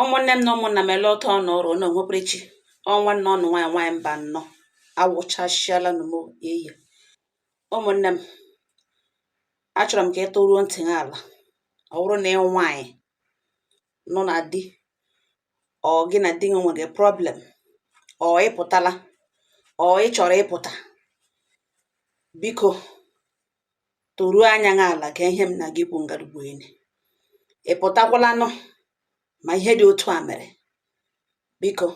ụmụnne m na ụmụnna m ele otu ọnụ ọrụ na onwekwere chi ọ nwanne unu nwaanyị nwaanyị Mbanọ awụchasịala nụ m eyi ụmụnne m achọrọ m ka ị toruo ntị gị ala ọ bụrụ na ị nwaanyị nọ na di or gị na di gị nwere problem or ị pụtala or ị chọrọ ịpụta biko toruo anya gị ala ka ihe m na-aga ikwu ngarugbu enyi ị pụtakwalanụ ma ihe dị otu a mere biko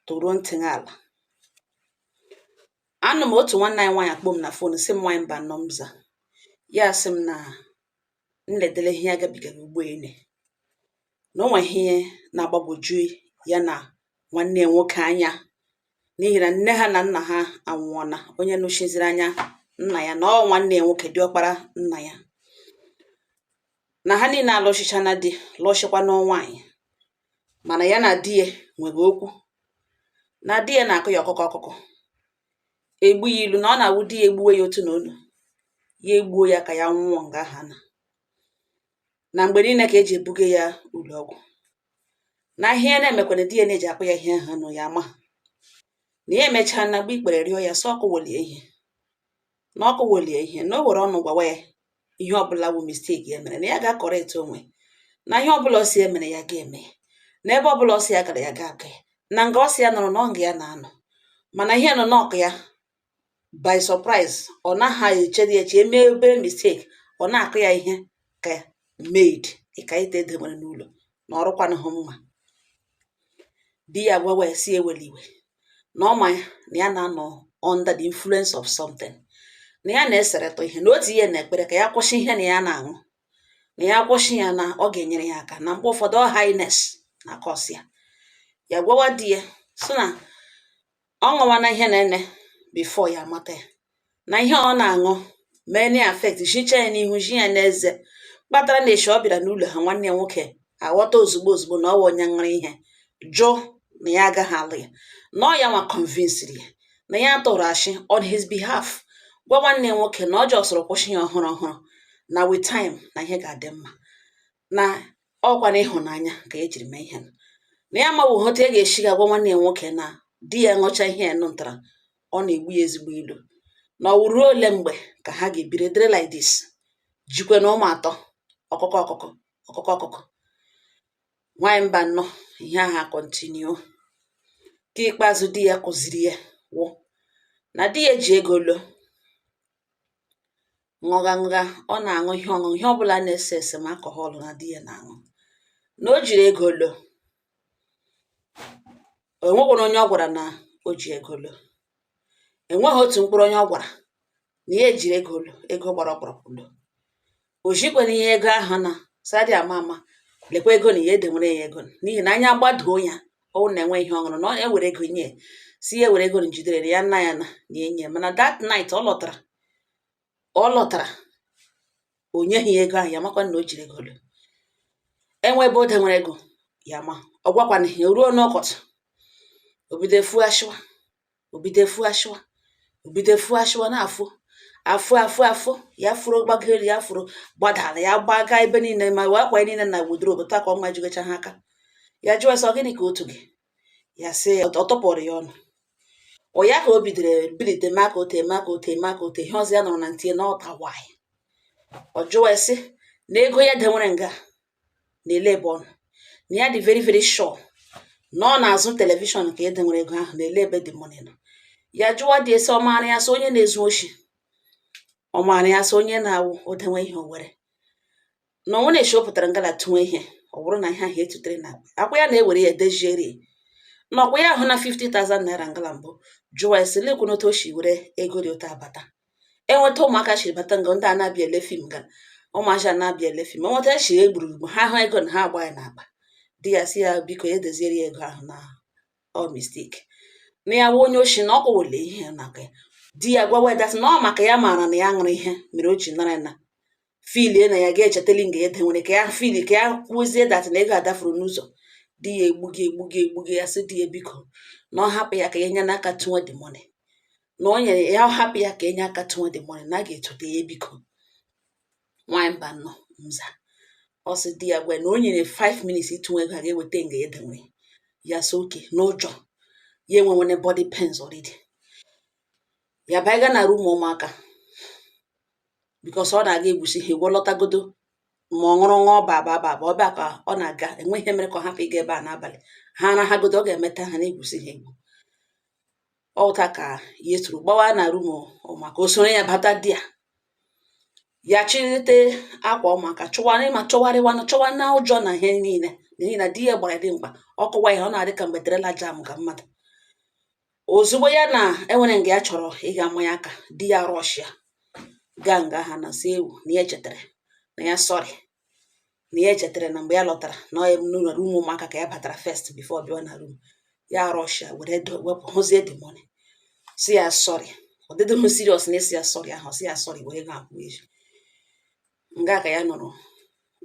toruo ntị gị ala anọ m otu nwanne anyị nwaanyị akpọọ m na fon sị m nwaanyị Mbanọ m za ya sị m na m ledele ihe ya gabigara ugbo ene na o nwe ihe na-agbagwoju ya na nwanne ya nwoke anya n'ihi na nne ha na nna ha anwụọna onye nọchiziri anya nna ya na ọ nwanne ya nwoke diọkpara nna ya na ha niile alụshịchana di lụshịkwana nwaanyị mana ya na di ya nwere okwu na di ya na-akụ ya ọkụkụ ọkụkụ egbu ya ilu na ọ na-awụ di ya egbuwe ya otu na onu ya egbuo ya ka ya nwụọ nga aha na na mgbe niile ka e ji ebuga ya ụlọ ọgwụ na ihe ya na-emekwana di ya na-eji akpa ya ihe aha na ya ama na ya emechaana gbuo ikpere rịọ ya sị ọ kụwele ya ihe na ọ kụwele ya ihe na o were ọnụ gwawa ya ihe ọbụla bụ mistake ya mere na ya ga-akọrekt onwe na ihe ọbụla ọ sị ya mere ya ga-eme na ebe ọbụla ọ sị ya gara ya ga-aga na nga ọ sị ya nọrọ na ọ nga ya na-anọ mana ihe nọ na-akụ ya by surprise ọ naghị echedi eche e mee obere mistake ọ na-akụ ya ihe ka maid ka ite e dewere n'ụlọ na ọ rụkwanụghị mma di ya gwawa ya sị ewele iwe na ọ ma ya na ya na-anọ under the influence of something na ya na-eseretọ ihe na o tihe n'ekpere ka ya kwụsị ihe na ya na-aṅụ na ya kwụsị ya na ọ ga-enyere ya aka na mgbe ụfọdụ ọ highness na-akọs ya ya gwawa di ya so na ọ ṅụwana ihe na-ene before ya amata ya na ihe ọ na-aṅụ mee na affect shicha ya n'ihu shi ya n'eze kpatara na eshi ọ bịara n'ụlọ ha nwanne ya nwoke aghọta ozugbo ozugbo na ọ wụ onye ṅụrụ ihe jụ na ya agaghị alụ ya na ọ ya nwa convinsiri ya na ya tụrụ ashị on his behalf gwa nwanne ya nwoke na ọ jọsọrọ kwụsị ya ọhụrụ ọhụrụ na with time na ihe ga-adị mma na ọkwa na ịhụnanya ka ya jiri mee ihe nụ na ya amaghị otu ya ga-esi ga gwa nwanne ya nwoke na di ya ṅụcha ihe ya nụtara ọ na-egbu ya ezigbo ilu na ọ ruo ole mgbe ka ha ga-ebiri dịrị like this jikwena ụmụ atọ ọkụkụ ọkụkụ ọkụkụ ọkụkụ nwaanyị Mbanọ ihe aha kọntinu ke ikpeazụ di ya kụziri ya wụ na di ya ji ego lo ṅụgha ṅụgha ọ na-aṅụ ihe ọṅụṅụ ihe ọbụla na-ese ese ma alcohol na di ya na-aṅụ na o jiri ego lo enwekwana onye ọ gwara na o ji ego lo enweghị otu mkpụrụ onye ọ gwara na ya ejiri ego lo ego gbara ọkpụrụkpụ lo o jikwana ihe ego ahụ na sadị ama ama lekwa ego na ya edenwere ya ego n'ihi na anya gbadoo ya ọ wụ na enwe ihe ọ ṅụrụ na ọ ewere ego nye sị ya ewere ego na jidere ya nna ya na na enye mana that night ọ lọtara ọ lọtara o nyeghị ya ego ahụ ya amakwana na o jiri ego lo enwe ebe o denwere ego ya ma ọ gwakwana ya ruo n'ọkọchị o bido efu ashụwa o bido efu ashụwa o bido efu ashụwa na-afụ afụ afụ afụ ya furu gbago elu ya furu gbadaa ala ya gbaga ebe niile ma akwa niile na wardrobe taa ka ọ majigocha ha aka ya jụwa sị ọ gịnị ka otu gị ya sị ya ọ tupụrụ ya ọnụ ọ ya ka o bidoro bilite maka ote maka ote maka ote ihe ọzọ ya nọrọ na ntinye na ọta nwaanyị ọ jụwa ya sị na ego ya denwere nga na-ele ebe ọ nọ na ya dị very very sure na ọ n'azụ telivishọn ka ya denwere ego ahụ na-ele ebe the money nọ ya jụwa di ya sị ọ maara ya as onye na-ezu oshi ọ maara ya as onye na-awụ e denwe ihe o were na o nweene eshi o pụtara nga la tụnwe ihe ọ bụrụ na ihe ahụ etutere na akpa akwa ya na-ewere ya dejieri na ọ kwa ya ahụna 50,000 naira nga la mbụ jụwa ya sị lekwu n'otu o si were ego dị otu a abata enweta ụmụaka shiri bata nga ndị a na-abịa ele fim ga ụmụaja na-abịa ele fim enweta echi ya egburugbu ha hụ ego na ha agba ya n'akpa di ya si ya biko ya edeziere ya ego ahụ na ọ mistake na ya wụ onye oshi na ọ kụwele ihe n'aka ya di ya gwawa ya that sị na ọ maka ya maara na ya ṅụrụ ihe mere o ji nara na feel na ya ga-echetali nga e denwere ka ya feel ka ya kwuzie that na ego adafuru n'ụzọ di ya egbugi egbugi egbugi ya sị di ya biko na ọ hapụ ya ka ya nye n'aka tụnwe the money na ọ nyere ya hapụ ya ka enye aka tụnwe the money na a ga-etote ya biko nwanyị mba nọ mza ọ sị di ya gwa na o nyere 5 minutes ịtụnwe ego a ga-eweta nga ya denwere ya sị okay n'ụjọ ya enwenwere body pains already ya baiga na room ụmụaka because ọ na-aga egwusi ha egwu lọtagodo ma ọ ṅụrụ ṅụọ ba ba ba ba ọ bịa ka ọ na-aga enwe ihe mere ka ọ hapụ ịga ebe a n'abalị ha arahagodo ọ ga-emeta ha na-egwusi ha egwu ọ wụ otu a ka ya siri gbawa na room ụmụaka o soro ya bata di ya ya chịrịte akwa ụmụaka chọwarị ma chọwarịwanụ chọwa na ụjọ na ihe niile n'ihi na di ya gbara dimkpa ọ kụwa ihe ọ na-adị ka mgbe trailer jamga mmadụ ozugbo ya na enwere nga ya chọrọ ịga ama ya aka di ya rọshịa gaa nga ha na si ewu na ya echetara na ya sọrị na ya echetara na mgbe ya lọtara na ọ n'ụlọ rum ụmụaka ka ya batara first before bịa na rum ya rọshịa were wepụ hụzie the money si ya sọrị ọ dịdị m serious na esi ya sọrị ahụ si ya sọrị were ga akwụ eji nga ka ya nọrọ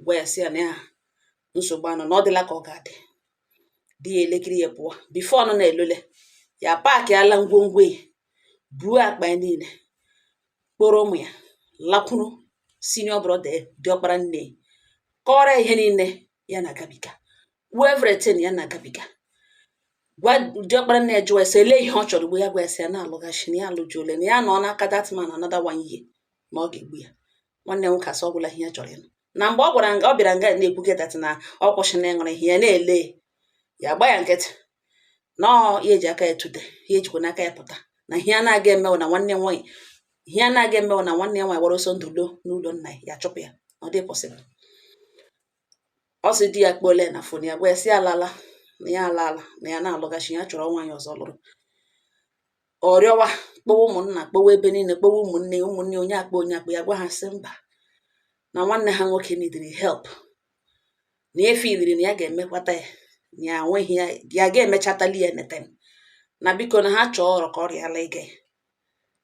gwa ya si ya na ya nsogbu anọ na ọ dịla ka ọ ga-adị di ya elekere ya pụọ before ọ nọ na-elole ya paakịala ngwongwo ya buo akpa ya niile kpọrọ ụmụ ya lakwuru senior brother diọkpara nne kọrọ ihe niile ya na-agabiga kwuo everything ya na-agabiga gwa diọkpara nne ya jụwa ya sị ele ihe ọ chọrọ ugbu a ya gwa ya sị ya na-alụghachi na ya alụjuole na ya nọ n'aka that man another one year na ọ ga-egbu ya nwanne nwoke asị ọ gwụla ihe ya chọrọ ịnụ na mgbe ọ gwara nga ọ bịara nga na-ekwuge datin na ọ kwụsị na ịnụrụ ihe ya na-ele ya gba ya nkịtị na ya eji aka ya tute ya ejikwa n'aka ya pụta na ihe a na-aga eme wụ na nwanne nwaanyị ihe a na-aga eme wụ na nwanne ya nwaanyị gbara ọsọ ndụ do n'ụlọ nna ya chụpụ ya ọ dịghị pọsịbụl ọ sị di ya kpọọle na fon ya gwa ya si alaala na ya alaala na ya na-alụghachi ya chọrọ nwaanyị ọzọ lụrụ ọ rịọwa kpọwa ụmụnna kpọwa ebe niile kpọwa ụmụnne ụmụnne onye akpọ onye akpọ ya gwa ha sị mba na nwanne ha nwoke nidiri help na efe iliri na ya ga-emekwata ya na ya nweghị ihe ya ga-emechatali ya anything na biko na ha chọọ ọrọ ka ọ rịala ige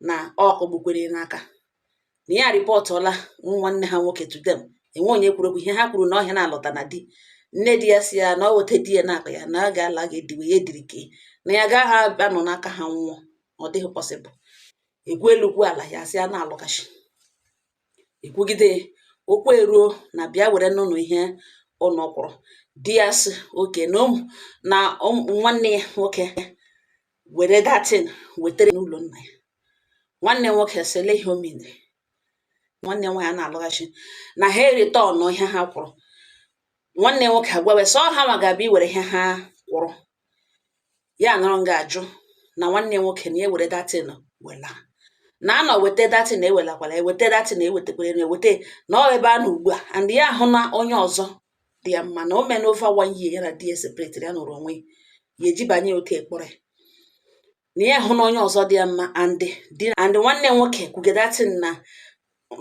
na ọ kọgbukwere n'aka na ya rịpọtụla nwanne ha nwoke to them enwe onye kwuru okwu ihe ha kwuru na ọ ihe a na-alụta na di nne di ya si ya na ọ wụ etu di ya na-akpa ya na ọ ga-ala ga-ediwe ya ediri ka na ya gaghị abịa nọ n'aka ha nwụọ ọ dịghị pọsịbụl ekwuo elu kwuo ala ya si ya na-alụghachi ekwugide okwu eruo na bịa werenụnụ ihe unu kwụrụ di ya si okay na nwanne ya nwoke were datin wetara n'ụlọ nna ya nwanne nwoke sị lee ihe o mere nwanne nwaanyị na-alụghachi na ha eritọnụ ihe ha kwụrụ nwanne nwoke agwawe sị ọ ha nwa ga-abịa iwere ihe ha kwụrụ ya nọrọ nga ajụ na nwanne nwoke na ewere datin wela na anọ weta datin ewelakwala eweta datin ewetakwere na eweta na ọ ebe a na ugbu a and ya ahụ na onye ọzọ dị ya mma na o meena over one year ya na di ya separetịrị ya nọrọ onwe ya ejibanye otu ekpọrọ ya na ya hụ na onye ọzọ dị ya mma and nwanne nwoke kwuge datin na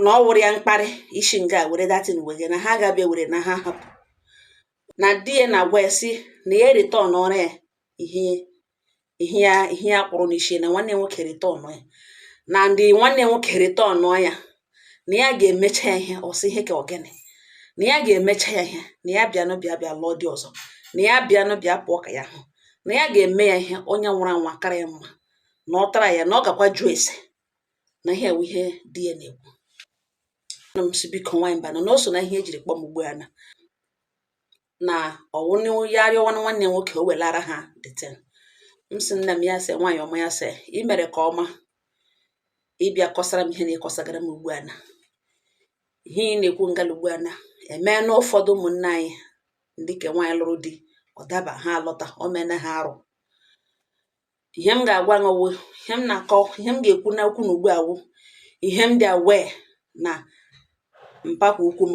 na ọ wụrụ ya mkparị isi nga were datin wege na ha ga-abịa were na ha hapụ na di ya na-agwa ya si na ya eritọnọrọ ya ihe ihe ya ihe ya kpụrụ n'isi na nwanne nwoke returnụọ ya na ndị nwanne nwoke returnụọ ya na ya ga-emecha ya ihe ọ sị ihe ka ọ gịnị na ya ga-emecha ya ihe na ya bịanụ bịa bịa lụọ dị ọzọ na ya bịanụ bịa pụọ ka ya hụ na ya ga-eme ya ihe onye nwụrụ anwụ akara ya mma na ọ tara ya na ọ gakwa jụọ ese na ihe a wụ ihe di ya na-ekwu ana m asị biko nwaanyị mba na o so na ihe ejiri kpọọ m ugbu a na na ọ wụrụ ya arịọwa nwanne nwoke o welara ha that thing m sị nna m ya sị nwaanyị ọma ya sị ị mere ke ọma ịbịa kọsara m ihe na ịkọsagara m ugbu a na ihe ị na-ekwu ngala ugbu a na emee na ụfọdụ ụmụnne anyị ndị ke nwaanyị lụrụ di ọ daba ha alọta o mena ha arụ ihe m ga-agwa ṅụwo ihe m na-akọ ihe m ga-ekwu n'okwu na ugbu a wụ ihe m dị aware na mpakwa ukwu m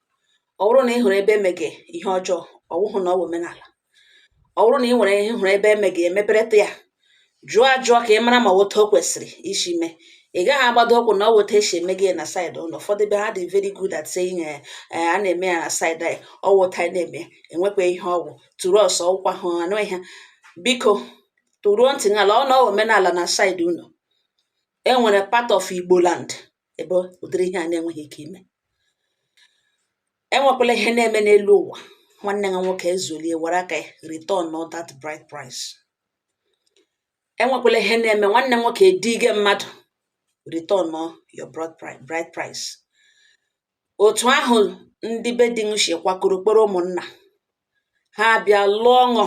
ọ bụrụ na ị hụrụ ebe emege ihe ọjọọ ọ wụhụ na ọ bụ omenala ọ bụrụ na ị nwere ihe hụrụ ebe emege emepereta ya jụọ ajụọ ka ị mara ma ọ wụ otu o kwesịrị isi mee ị gaghị agbado ụkwụ na ọ wụ otu esi eme ya na side ụlọ ụfọdụ be ha dị very good at saying eh, eh, a na-eme ya na side anyị ọ wụ otu anyị na-eme enwekwa ihe ọgwụ tụrụ ọsọ ọgwụkwa hụ anụ ihe biko tụruo ntị n'ala ọ na omenala na side ụlọ enwere part of igbo land ebe ụdịrị ihe a na-enweghị ike ime enwekwala ihe na-eme n'elu ụwa nwanne ha nwoke ezulie were aka ya returnụọ that bride price enwekwala ihe na-eme nwanne nwoke edige mmadụ returnụọ your bride price otu ahụ ndị be di m si kwakọrọ kpọrọ ụmụnna ha bịa lụọ ọṅụ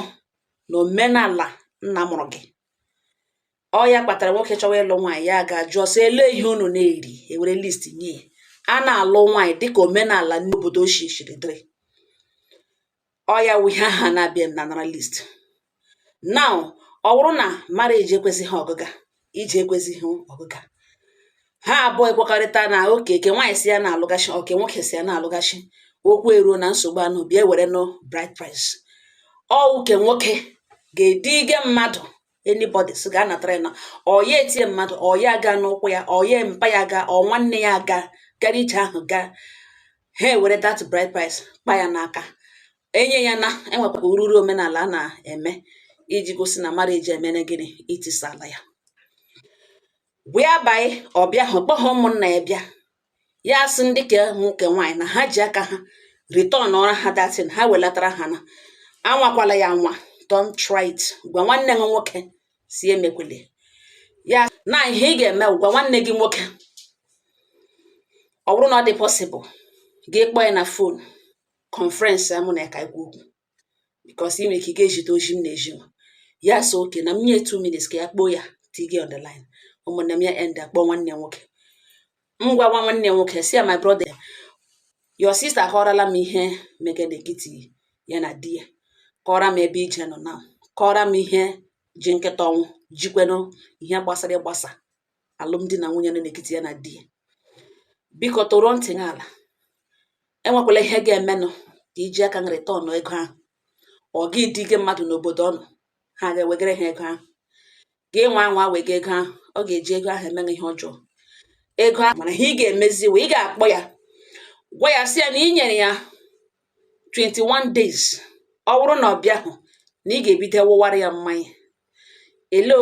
na omenala nna mụrụ gị ọ ya kpatara nwoke chọwa ịlụ nwaanyị ya ga jụọ sị olee ihe unu na-eri ewere list nye ya na-alụ nwaanyị dịka omenala n'obodo ochie siri dịrị ọ ya wụ ihe ha na-abịa m na nara list now ọ bụrụ na marriage ekwezighị ọgịga ije ekwezighị ọgịga ha abụọ ekwekọrịta na oke ke nwaanyị si ya na-alụgachi oke nwoke si ya na-alụgachi okwu eruo na nsogbu unu bịa were nụ bride price ọ oke nwoke ga-ediga mmadụ anybody so ga anatara ya na ọ ya etie mmadụ ọ ya ga n'ụkwụ ya ọ ya mpa ya ga ọ nwanne ya aga gara ije ahụ gaa ha ewere that bride price kpa ya n'aka enye ya na enwekwa ururu omenala a na-eme iji gosi na marriage emena gịnị etisala ya whereby ọbịa ahụ kpọọ ụmụnna ya bịa ya sị ndị ke nwoke nwaanyị na ha ji aka ha returnụọra ha that thing ha welatara ha na anwakwala ya nwa don't try it gwa nwanne gị nwoke sị ya emekwele ya na ihe ị ga-eme gwa nwanne gị nwoke ọ bụrụ na ọ dị possible gị kpọọ ya na phone conference amụ na ya ka okwu because ị nwere ike ị ga-ejide ozi m na-eji nwa ya sị okay na m nye two minutes ka ya kpọọ ya tige on the line ụmụnne m ya end akpọ nwanne ya nwoke m gwawa nwanne ya nwoke sị ya my brother your sister akọrọla m ihe mege n'ekiti ya na di ya kọrọ m ebe ije nọ na kọrọ m ihe ji nkịta ọnwụ jikwenụ ihe gbasara ịgbasa alụmdi na nwunye nọ n'ekiti ya na di ya biko tọrọ ntị n'ala enwekwala ihe ga-emenụ ka i ji aka gị return ego ahụ ọ gị dị gị mmadụ n'obodo unu ha ga-ewegara ha ego ahụ gị nwa anwa wega ego ahụ ọ ga-eji ego ahụ eme gị ihe ọjọọ ego ahụ mana ihe ị ga-emezi wụ ị ga-akpọ ya gwa ya sị ya na ị nyere ya 21 days ọ bụrụ na ọ bịahụ na ị ga-ebido wụwara ya mmanya ele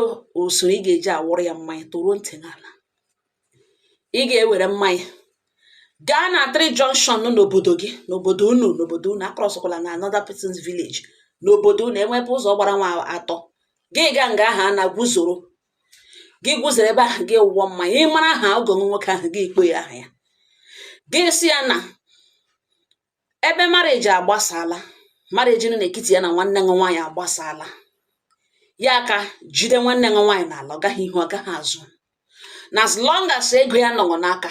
usoro ị ga-eji awụrụ ya mmanya tọrọ ntị n'ala ị ga-ewere mmanya gaa na three junction nọ n'obodo gị n'obodo unu n'obodo unu akrọsụkwala na another person's village n'obodo unu e nwee ebe ụzọ gbara nwa atọ gị gaa nga aha na gwuzoro gị gwuzoro ebe ahụ gị wụọ mmanya ị mara aha ọgọ ṅụ nwoke ahụ gị akpọ aha ya gị asị ya na ebe marriage agbasala marriage nọ n'etiti ya na nwanne ṅụ nwaanyị agbasala ya aka jide nwanne ṅụ nwaanyị n'ala ọ gaghị ihu ọ gaghị azụ na as long as ego ya nọ ṅụ n'aka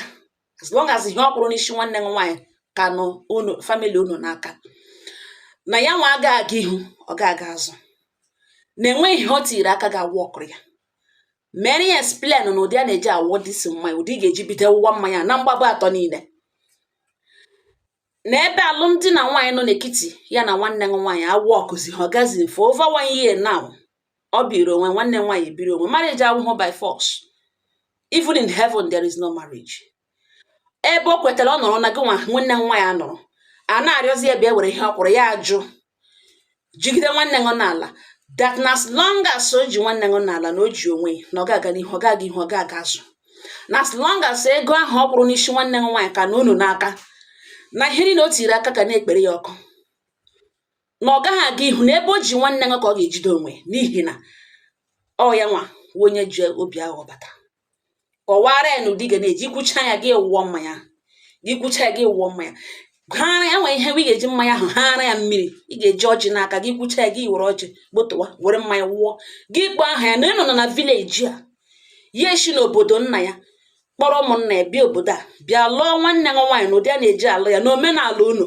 as long as ihe ọ kwụrụ n'isi nwanne ṅụ nwaanyị ka nọ unu family unu n'aka na ya nwa aga aga ihu ọ ga-aga azụ na enweghị ihe o tiri aka ga-awọkụrụ ya mere ya explain na ụdị a na-eji awụdịsị mmanya ụdị ị ga-eji bido wụwa mmanya na mgbaba atọ niile na ebe alụmdi na nwaanyị nọ n'ekiti ya na nwanne ṅụ nwaanyị awọkụzịhụ ọ gazi for over one year now ọ biri onwe nwanne ṅụ nwaanyị biri onwe marriage awụhụ by force even in heaven there is no marriage ebe o kwetara ọ nọrọ na gị nwa nwanne nwaanyị anọrọ a na-arịọzi ya bịa were ihe ọ kwụrụ ya ajụ jigide nwanne ṅụ n'ala that na as long as o ji nwanne ṅụ n'ala na o ji onwe ya na ọ ga-aga n'ihu ọ ga-aga ihu ọ ga-aga azụ na as long as ego ahụ ọ kwụrụ n'isi nwanne ṅụ nwaanyị ka nọ unu n'aka na ihe niile o tiri aka ka na-ekpere ya ọkụ na ọ gaghị aga ihu na ebe o ji nwanne ṅụ ka ọ ga-ejide onwe n'ihi na ọ ya nwa wụ onye ji obi aghụghọ bata kọwara ya na ụdị ga na-eji kwucha ya gị wụọ mmanya gị kwucha ya gị wụọ mmanya haara ya nwere ihe ị ga-eji mmanya ahụ haara ya mmiri ị ga-eji ọjị n'aka gị kwucha ya gị were ọjị gbotowa were mmanya wụọ gị kpọọ aha ya na ịnọ nọ na village a ya eshi n'obodo nna ya kpọrọ ụmụnna ya bịa obodo a bịa lụọ nwanne ṅụ nwaanyị na ụdị a na-eji alụ ya na omenala unu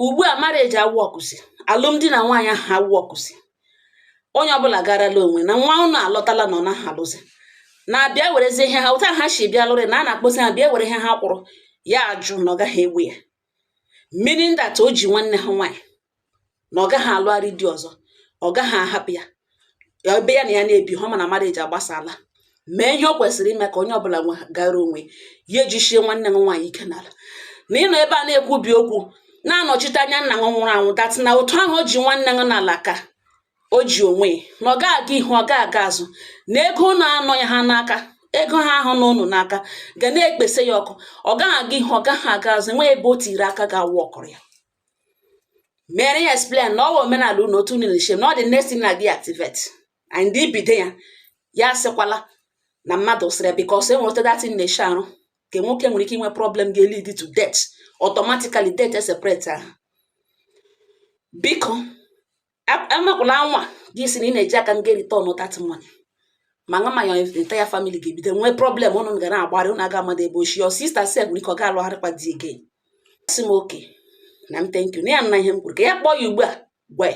ugbu a marriage awọkụzi alụmdi na nwaanyị ahụ awọkụzi onye ọbụla garala onwe na nwa ụnụ alọtala na ọ naghị alụzi na a bịa werezi ihe ha otu ha si bịa lụrị na a na-akpọzi ha bịa were ihe ha kwụrụ ya ajụ na ọ gaghị ewe ya meaning that o ji nwanne ha nwaanyị na ọ gaghị alụgharị di ọzọ ọ gaghị ahapụ ya ebe ya na ya na-ebihụ mana marriage agbasaala mee ihe ọ kwesịrị ime ka onye ọbụla gara onwe ya ejisie nwanne gị nwaanyị ike n'ala na ị nọ ebe a na-ekwubi okwu na-anọchite anya nna gị nwụrụ anwụ that na otu ahụ o ji nwanne gị n'ala ka o ji onwe ya na ọ ga-aga ihu ọ ga-aga azụ na ego ụnụ anọ ya ha n'aka ego ha ahụ nọ ụnụ n'aka ga na-ekpesa ya ọkụ ọ gaghị aga ihu ọ gaghị aga azụ enweghị ebe o tiri aka ga-awọkụrụ ya mere ya explain na ọ wụ omenala unu otu unu na-esi na ọ the next thing ị na-aga activate and i bido ya ya sịkwala na mmadụ sịrị because enwere otu that thing na-esi arụ nke nwoke nwere ike inwe problem ga-lead to death automatically death separate ha biko amakwala anwa gị sị na ị na-eji aka nga return that money ma nga ma your entire family ga-ebido nwee problem ụnụ ga na-agbarị ụnụ aga amadị ebe o si your sister sef nwere ike ọ ga-alụgharịkwa di again sị m okay nna m thank you na ya anụna ihe m kwuru ka ya kpọọ ya ugbu a gwa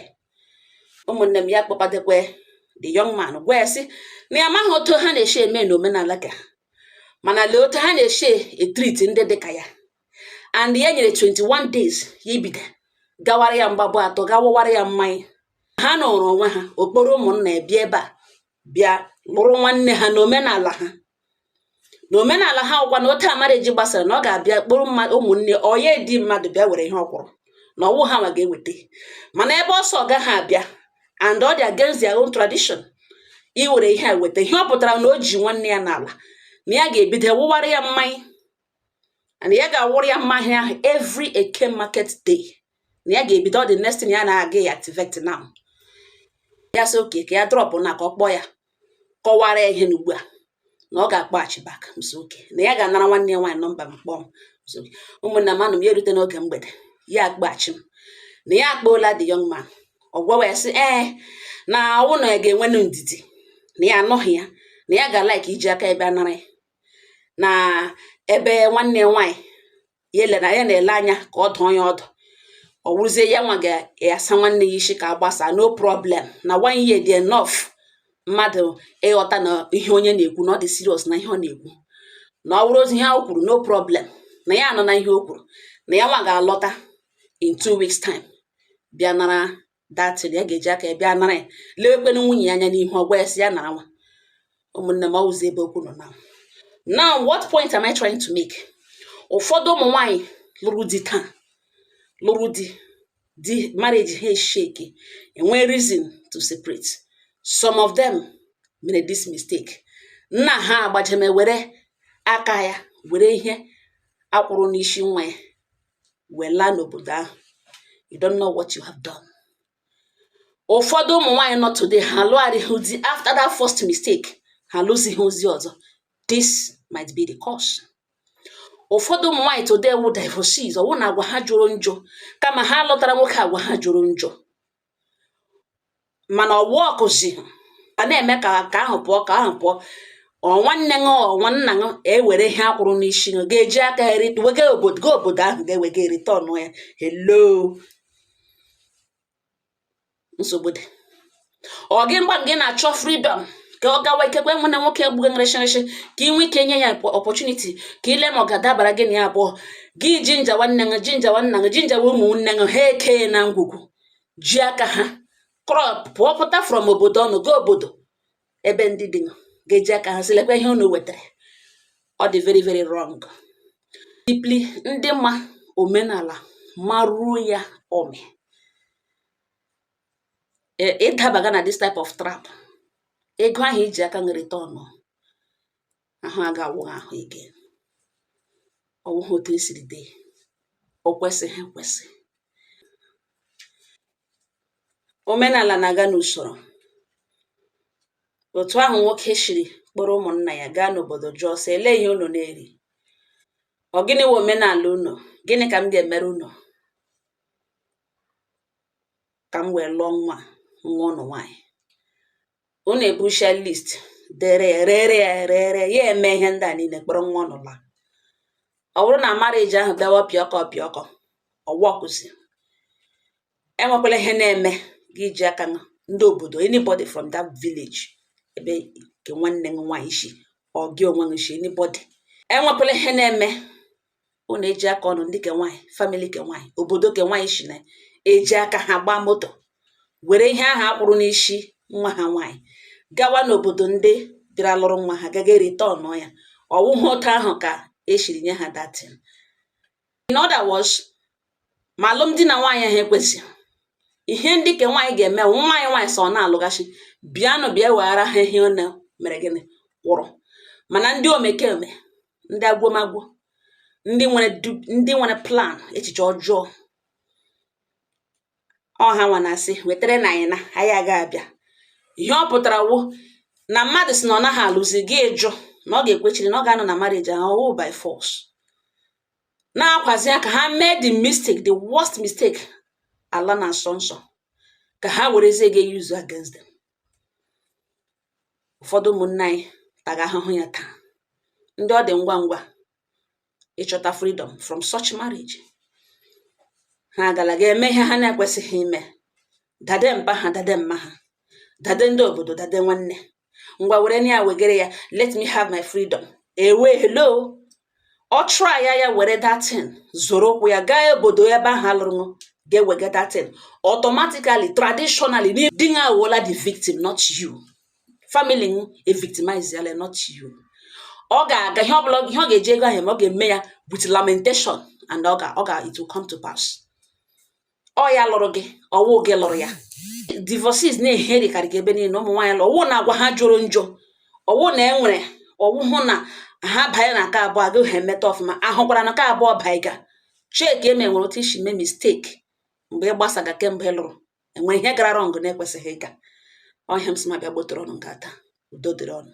ụmụnne m ya kpọkwadekwe the young man gwa ya sị na ya amaghị otu ha na-esi eme na omenala ka mana lee otu ha na-esi etriti ndị dị ka ya and ya nyere 21 days ya ebido gawara ya mgbabụ atọ ga wụwara ya mmanya ha nọrọ onwe ha ọ kpọrọ ụmụnna ya bịa ebe a bịa lụrụ nwanne ha na omenala ha na omenala ha wụkwa na otu marriage gbasara na ọ ga-abịa kpọrọ ụmụnne ya ndị mmadụ bịa were ihe ọ kwụrụ na ọ wụghị ha nwa ga-eweta mana ebe ọ sị ọ gaghị abịa and ọ dị against their own tradition iwere ihe a weta ihe ọ pụtara na o ji nwanne ya n'ala na ya ga-ebido wụwara ya mmanya and ya ga-awụrụ ya mmanya ahụ every eke market day na ya ga-ebido ọ the next thing ya na-aga ya activate now ya sị okay ka ya drop na ka ọ kpọọ ya kọwara ya ihe n'ugbu a na ọ ga-akpọghachi back m sị okay na ya ga-anara nwanne ya nwaanyị nọmba m kpọọ m m sị okay ụmụnna m anọ m ya erute n'oge mgbede ya akpọghachi m na ya akpọọla the young man ọ gwawa ya sị ee na ọ wụ na ya ga-enwe ndidi na ya anọghị ya na ya ga-like iji aka ya bịa nara ya na ebe nwanne ya nwaanyị ya ele na ya na-ele anya ka ọ dụọ ya ọdụ ọ wụrụzie ya nwa ga-asa nwanne ya isi ka a gbasa no problem na one year dị enough mmadụ ịghọta na ihe onye na-ekwu na ọ dị serious na ihe ọ na-ekwu na ọ wụrụzi ihe o kwuru no problem na ya anụna ihe o kwuru na ya nwa ga-alọta in two weeks time bịa nara that thing ya ga-eji aka ya bịa nara ya lewekwenụ nwunye ya anya n'ihu ọ gwa ya sị ya nara nwa ụmụnne m ọ wụzi ebe okwu nọ na now what point am I trying to make ụfọdụ ụmụ nwanyị lụrụ di taa lụrụ di di marriage ha eshake enwee reason to separate some of them mere this mistake nna ha agbajeme were aka ya were ihe a kwụrụ n'isi nwa ya wee laa n'obodo ahụ you don't know what you have done ụfọdụ ụmụ nwaanyị nọ today ha lụgharịghị di after that first mistake ha lụzighị ozi ọzọ this might be the cause ụfọdụ ụmụ nwaanyị today wụ divorcees ọ wụ na agwa ha jọrọ njọ kama ha lụtara nwoke agwa ha jọrọ njọ mana ọ workụzi a na-eme ka ka ahụ pụọ ka ahụ pụọ ọ nwanne gị ọ nwanna gị ewere ihe a kwụrụ n'isi gị ga-eji aka erite wega obodo gị obodo ahụ ga-ewega ereturn ya hello nsogbu dị ọ gị mgba gị na-achọ freedom ka ọ gawa ikekwe nwe na nwoke egbughị nrịshịrịshị ka ị nwee ike nye ya opportunity ka i lee ma ọ ga-adabara gị na ya abụọ gị ginger nwanne gị ginger nwanna gị ginger ụmụnne gị ha eke na ngwugwu ji aka ha krọp pụọ pụta from obodo unu gaa obodo ebe ndị di ga-eji aka ha sị lekwa ihe unu wetara ọ dị very very wrong deeply ndị ma omenala maruo ya ome e, ịdabaga na this type of trap ego ahụ i ji aka wee return ahụ aga awụ ahụ ike ọ wụghị otu e siri dee o kwesịghị ekwesị omenala na-aga n'usoro otu ahụ nwoke shiri kpọrọ ụmụnna ya gaa n'obodo jụọ sị ele ihe unu na-eri ọ gịnị wụ omenala unu gịnị ka m ga-emere unu ka m wee lụọ nwa nwa unu nwaanyị unu ebucha list dere ya rere rere ya eme ihe ndị a niile kpọrọ nwa unu laa ọ bụrụ na marriage ahụ bịawa pịọkọ pịọkọ ọ workụzi enwekwala ihe na-eme gị ji aka ndị obodo anybody from that village ebe ke nwanne gị nwaanyị shi ọ gị onwe gị shi anybody enwekwala ihe na-eme unu eji aka unu ndị ke nwaanyị family ke nwaanyị obodo ke nwaanyị shi na-eji aka ha gbaa moto were ihe ahụ a kwụrụ n'isi nwa ha nwaanyị gawa n'obodo ndị bịara lụrụ nwa ha gaga return ya ọ wụhụ otu ahụ ka e shiri nye ha that thing in other words ma alụmdi na nwaanyị ahụ ekwezi ihe ndị ke nwaanyị ga-eme nwaanyị nwaanyị sị na alụghazi bịanụ bịa weghara ihe unu mere ego unu kwụrụ mana ndị omekome ndị agwomagwo ndị nwere ndị nwere plan echiche ọjọọ ọ ha nwa na-asị wetara na anyị na anyị aga abịa ihe ọ pụtara wụ na mmadụ sị na ọ naghị alụzi gị ịjụ na ọ ga-ekwechiri na ọ ga-anọ na marriage ahụ ọwụ by force na-akwazi ya ka ha mee the mistake the worst mistake ala na-asọ nsọ ka ha werezie ga use against them ụfọdụ ụmụnne anyị taga ahụhụ ya taa ndị ọ dị ngwa ngwa ịchọta freedom from such marriage ha agala ga-eme ihe ha na-ekwesịghị ime dade mpa ha dade mma ha dade ndị obodo dade nwanne ngwa werenụ ya wegere ya let me have my freedom ewe hello ọ try ya ya were that thing zọrọ ụkwụ ya gaa obodo ebe ahụ a lụrụ ga-ewega that thing automatically traditionally di ya awụla the victim not you family m evictimize yala not you ọ ga-aga ihe ọbụla ihe ọ ga-eji ego ahụ eme ọ ga-eme ya with lamentation and ọ ga ọ ga it will come to pass ọ ya lụrụ gị ọwụ gị lụrụ ya divorcees na-eherikarị gị ebe niile ụmụ nwaanyị lụrụ ọwụ na agwa ha jọrọ njọ ọwụ na enwere ọwụhụ na ha banye na nke abụọ agaghị ha emeta ọfụma ahụkwara na nke abụọ baa ị ga-check ma e nwere otu i si mee mistake mgbe ị gbasaga kemgbe ị lụrụ enwere ihe gara wrong na-ekwesịghị ịga ọ ihe m sị ma bịa gbotoro unu ngaa taa udo dịrị unu